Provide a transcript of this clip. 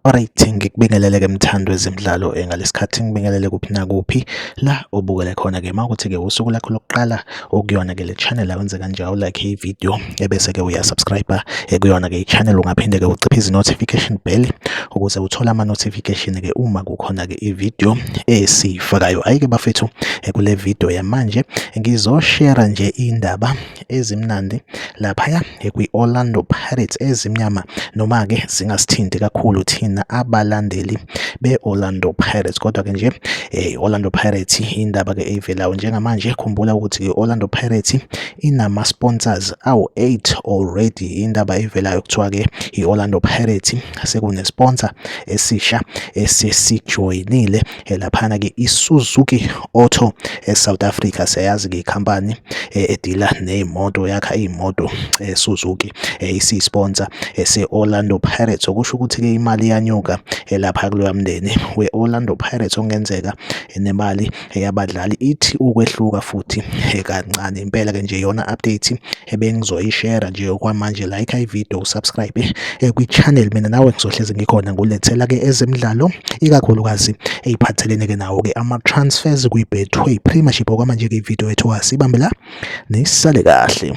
Alright, ngikubingelele-ke mthando wezemidlalo eh, ngalesi khathi ngibingelele kuphi nakuphi la obukele khona-ke uma ukuthi-ke usuku lakho lokuqala okuyona ke le channel awenze kanje awulike i video ebese ke uya subscribe ekuyona ke i channel ungaphinde ke uciphe izi notification bell ukuze uthole ama notification ke uma kukhona ke i video esifakayo ayike bafethu kule video yamanje ngizoshare nje indaba ezimnandi lapha kwi-Orlando Pirates ezimnyama noma-ke zingasithinti kakhulu thina abalandeli be-Orlando Pirates kodwa-ke nje eh, i-Orlando Pirates indaba-ke eyivelayo njengamanje khumbula ukuthi i-Orlando Pirates inama-sponsors awu-8 already indaba eyivelayo kuthiwa-ke i-Orlando Pirates sekune-sponsor esisha esesijoyinile Eh, laphana ke iSuzuki Auto eSouth eh, Africa siyayazi ke ikhampani eh, edila nezimoto yakha izimoto eSuzuki isisponsor seOrlando Pirates okusho ukuthi ke imali yanyuka lapha kuloya mndeni weOrlando Pirates ongenzeka nemali yabadlali ithi ukwehluka futhi kancane impela ke nje yona update ebengizoyishare nje okwamanje like ivideo subscribe eh, kwi-channel mina nawe ngizohlezi ngikhona ngulethela ke ezemidlalo ikakhulukazi eyiphathelene ke nawo ke ama-transfers kwi-betway premiership okwamanje ke ividiyo yethu asibambe la nisale kahle